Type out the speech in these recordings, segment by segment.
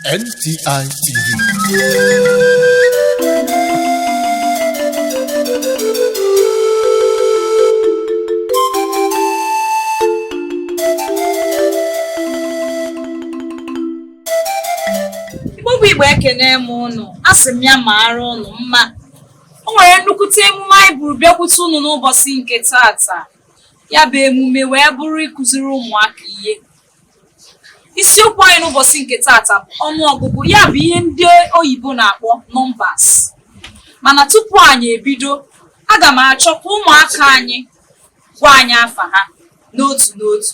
Ndị Igbo bụ Igbo ekene m ụnụ, a sị m ya maara ụnụ mma. O nwere nnukwute emume anyị buru bịakwute ụnụ n'ụbọsị nke taata. ya bụ emume wee bụrụ ịkụziri ụmụaka ihe isiokwu anyị n'ụbọsị nke taata bụ ọnụọgụgụ ya bụ ihe ndị oyibo na-akpọ numbers mana tupu anyị ebido aga m achọ ka ụmụaka anyị gwa anyị afa ha n'otu n'otu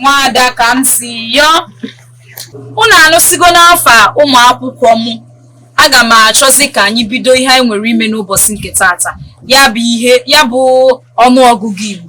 nwaada ka m si yọọ unu anụsigo n'afa ụmụ akwụkwọ m aga m achọzi ka anyị bido ihe anyị nwere ime n'ụbọsị nke taata ya bụ ọnụọgụgụ Igbo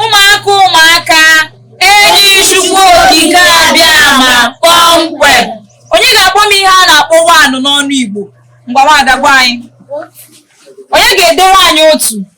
ụmụaka ụmụaka eji chukwu okike abịama kpọmkwem onye ga-akpọ m ihe a na-akpọ one n'ọnụ igbo ngwa nwaada gwa anyị onye ga-edere anyị otu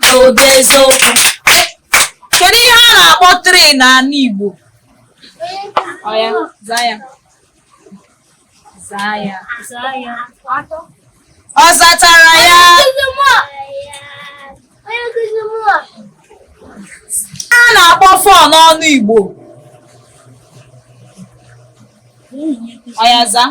n'obi eziokwu kedu ihe a na-akpọ three n'ọnụ Igbo ọya zaa ya zaa ya ọ zatara ya a na-akpọ four n'ọnụ Igbo ọya zaa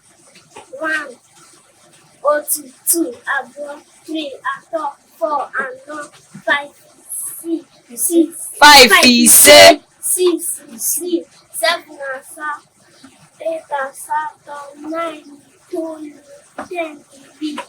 one otu two abụọ three atọ four anọ five six six five ise six isii seven asaa eight asatọ nine itoolu ten iri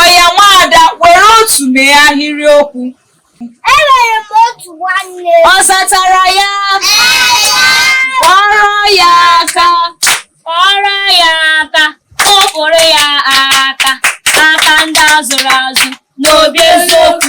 ọya nwaada were otu mee ahịrịokwu Enwere m otu nwanne. ọ zatara ya kụọrọ ya aka kụọrọ ya aka kụpụrụ ya aka aka ndị a zụrụ azụ n'obi eziokwu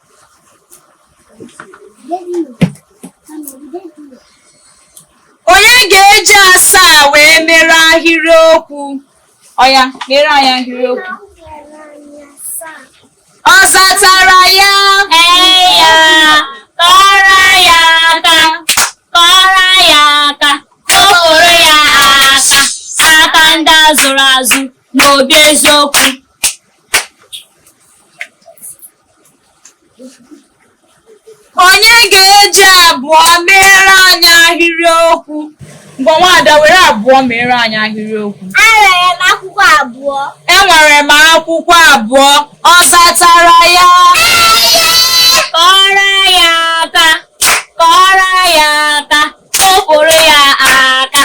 onye ga-eji asaa wee mere ahịrịokwu ọya mere anyị ahịrịokwu ọ zatara ya ee ya kụọrọ ya aka kụọrọ ya aka kụpụrụ ya aka aka ndị a zụrụ azụ n'obi eziokwu onye ga-eji abụọ meere anyị ahịrị okwu ngwa nwaada were abụọ meere anyị ahịrị okwu enwere m akwụkwọ abụọ enwere m akwụkwọ abụọ ọ zatara ya kụọrọ ya aka kụọrọ ya aka kụpụrụ ya aka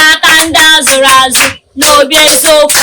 aka ndị a zụrụ azụ n'obi eziokwu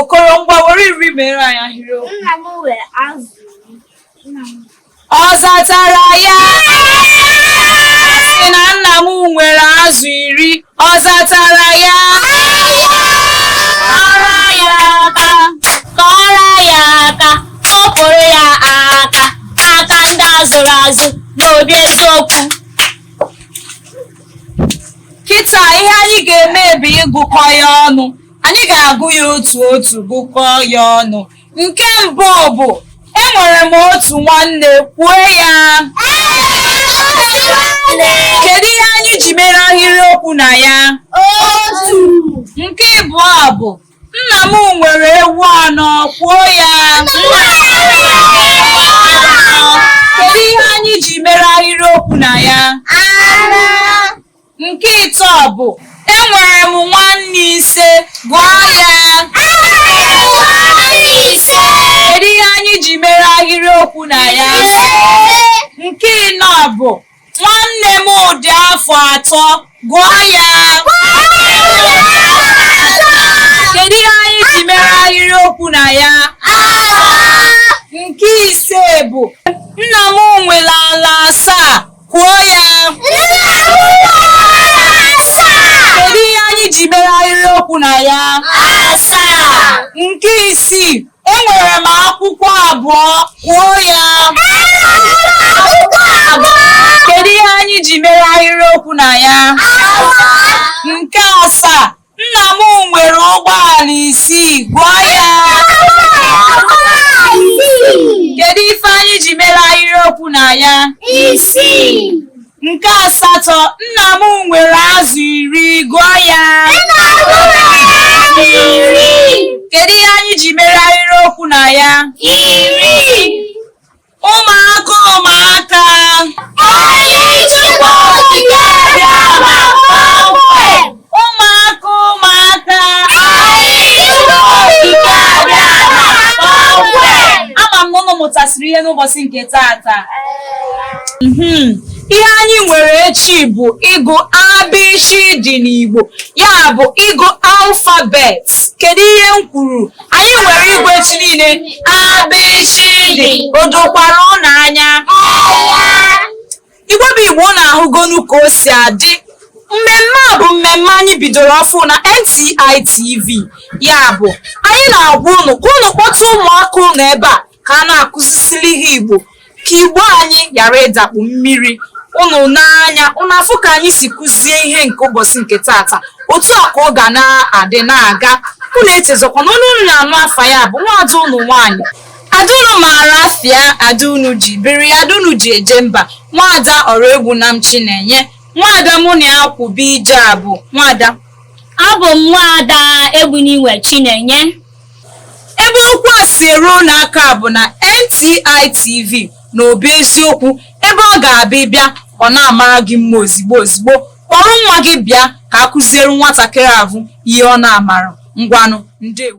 Okoro ngwa were iri meere anyị ahịrịokwu. Nna m nwere azụ. Ọ zatara ya sị na nna m nwere azụ iri ọ zatara ya kụọrọ ya aka kụọrọ ya aka kụpụrụ ya aka aka ndị a zụrụ azụ n'obi eziokwu kịta ihe anyị ga-eme bụ ịgụkọ ya ọnụ Anyị ga-agụ ya otu otu gụkọọ ya ọnụ. Nke mbụ bụ enwere m otu nwanne kwuo ya. Kedu ihe anyị ji mere ahịrịokwu na ya? Otu. Nke ịbụọ bụ nna m nwere ewu anọ kwuo ya. Kedu ihe anyị ji mere ahịrịokwu na ya? Anọ. Nke ịtọ bụ enwere m nwanne ise gụọ ya kedu ihe anyị ji mere ahịrịokwu na ya nke ịnọ bụ nwanne mụ dị afọ atọ gụọ ya kedu ihe anyị ji mere ahịrịokwu na ya nke ise bụ nna m nwere ala asaa Kwuo ya! Kedu ihe anyị ji mere ahịrịokwu na ya? Nke isii, enwere m akwụkwọ abụọ. Kwuo ya! Kedu ihe anyị ji mere ahịrịokwu na ya? Nke asaa, Nna m nwere ụgbọala isii, gụọ ya. Kedu ife anyị ji mere ahịrịokwu na ya? Isii. Nke asatọ, nna m nwere azụ iri, gụọ ya. Nna m nwere azụ iri. Kedu ihe anyị ji mere ahịrịokwu na ya? Iri. ụmụaka ụmụaka ụmụaka ụmụaka ama m na ụnụ mụtasịrị ihe n'ụbọchị nke taata Mhm. ihe anyị nwere echi bụ ịgụ abịchị dị n'Igbo ya bụ ịgụ alfabet kedu ihe m kwuru anyị nwere igwe chi niile abịchịdị o dokwara ụnụ anya igbo bụ igbo ụnụ ahụgonu ka o si adị mmemme a bụ mmemme anyị bidoro ọfụụ na NTI TV ya bụ anyị na-agwa ụnụ ka ụnụ kpọta ụmụaka ụnụ ebe a ka a na-akụzisili ha Igbo ka Igbo anyị ghara ịdakpu mmiri ụnụ n'anya ụnụ afụ ka anyị si kụzie ihe nke ụbọchị nke taata otu a ka ọ ga na-adị na-aga unu echezọkwa na onye unu na-anụ afa ya bụ nwaada ụnụ nwaanyị ada unu maara afịa ada unu ji biri ada unu ji eje mba nwaada Oraegbunam chinenye nwaada mụ na ya kwụba ije abụ nwaada abụ m nwaada egbuniwe chinenye Ebe okwu a si eru unu aka bụ na NTI TV na Obi Eziokwu ebe ọ ga-abụ ị bịa ọ na-amara gị mma ozigbo ozigbo kpọrọ nwa gị bịa ka a kụziere nwatakịrị ahụ ihe ọ na-amara ngwanụ ndewonụ